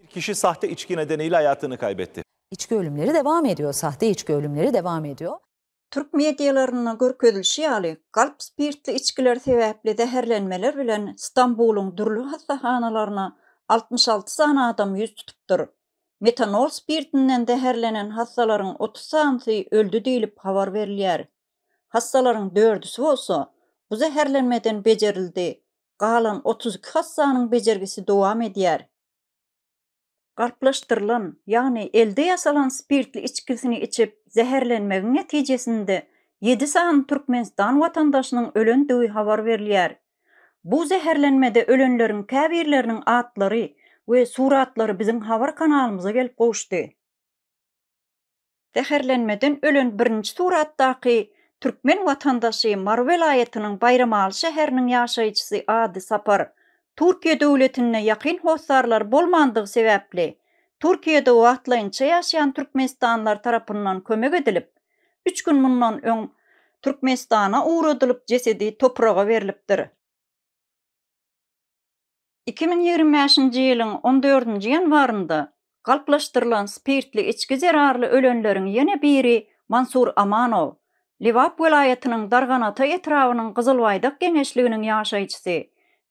Kişi sahte içki nedeniyle hayatını kaybetti. İçki ölümleri devam ediyor. Sahte içki ölümleri devam ediyor. Türk medialarynda görkezilişi ýaly, galp spirtli içgiler sebäpli zäherlenmeler bilen Stambulyň dürli hassahanalaryna altmyş alty sany adam ýüz tutupdyr. Metanol spirtinden zäherlenen hassalaryň otuz sanysy öldi diýlip habar berilýär. Hassalaryň dördüsi bolsa bu zäherlenmeden bejerildi, galan otuz iki hassanyň bejergisi dowam edýär. Galplaşdyrylan, ýagny elde ýasalan spirtli içgisini içip zäherlenmegiň netijesinde ýedi sany Türkmenistan watandaşynyň ölendigi habar berilýär. Bu zäherlenmede ölenleriň käbirleriniň atlary we suratlary biziň habar kanalymyza gelip gowuşdy. Zäherlenmeden ölen birinji suratdaky türkmen watandaşy Mary welaýatynyň Baýramaly şäheriniň ýaşaýjysy Ady Sapar. Türkiýe döwletinde ýakyn hossarlary bolmandygy sebäpli, Türkiýede wagtlaýynça ýaşaýan türkmenistanlylar tarapyndan kömek edilip, üç gün mundan öň Türkmenistana ugradylyp jesedi topraga berlipdir. Iki müň ýigrimi bäşinji ýylyň on dördünji ýanwarynda galplaşdyrylan spirtli içgi zerarly ölenleriň ýene biri Mansur Amanow, Lebap welaýatynyň Darganata etrabynyň Gyzylbaýdak geňeşliginiň ýaşaýjysy,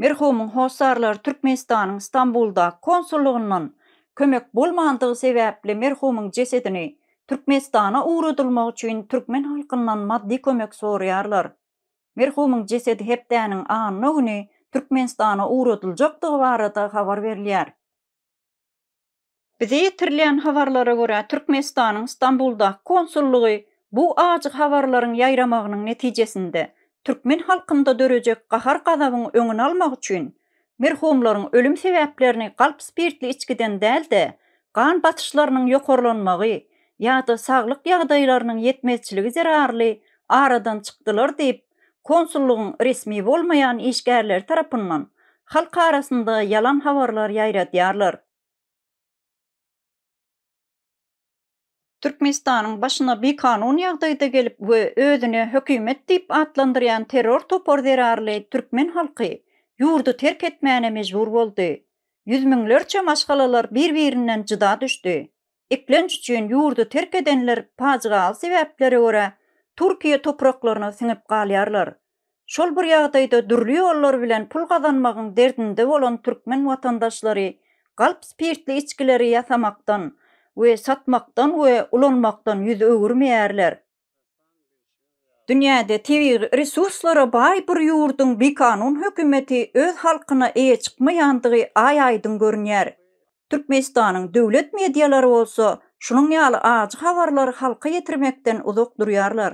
merhumyň hossarlary Türkmenistanyň Stambuldaky konsullygyndan kömek bolmandygy sebäpli merhumyň jesedini Türkmenistana ugradylmagy üçin türkmen halkyndan maddy kömek soraýarlar. Merhumyň jesedi hepdäniň anna güni Türkmenistana ugradyljakdygy barada habar berilýär. Bize ýetirilýän habarlara görä, Türkmenistanyň Stambuldaky konsullygy bu ajy habarlaryň ýaýramagynyň netijesinde, türkmen halkynda dörejek gahar-gazabyň öňüni almak üçin, Merhumlaryň ölüm sebäplerini galp spirtli içgiden däl-de, gan basyşlarynyň ýokarlanmagy ýa-da saglyk ýagdaýlarynyň ýetmezçiligi zerarly aradan çykdylar diýip, konsullygyň resmi bolmaýan işgärleri tarapyndan halk arasynda ýalan habarlar ýaýradýarlar. Türkmenistanyň başyna bikanun ýagdaýda gelip we özüne hökümet diýip atlandyrýan terror topar zerarly türkmen halky ýurdy terk etmäne mejbur boldy. Ýüz müňlerçe maşgalalar bir-birinden jyda düşdi. Eklenç üçin ýurdy terk edenler pajygaly sebäplere görä Türkiýe topraklaryna siňip galýarlar. Şol bir ýagdaýda dürli ýollar bilen pul gazanmagyň derdinde bolan türkmen watandaşlary galp spirtli içgileri ýasamakdan we satmakdan we ulanmakdan ýüz öwürmeýärler. Dünýäde tebigy resurslara baý bir ýurduň bikanun hökümeti öz halkyna eýe çykmaýandygy aý-aýdyň görünýär. Türkmenistanyň döwlet medialary bolsa şunuň ýaly ajy habarlary halka ýetirmekden uzak durýarlar.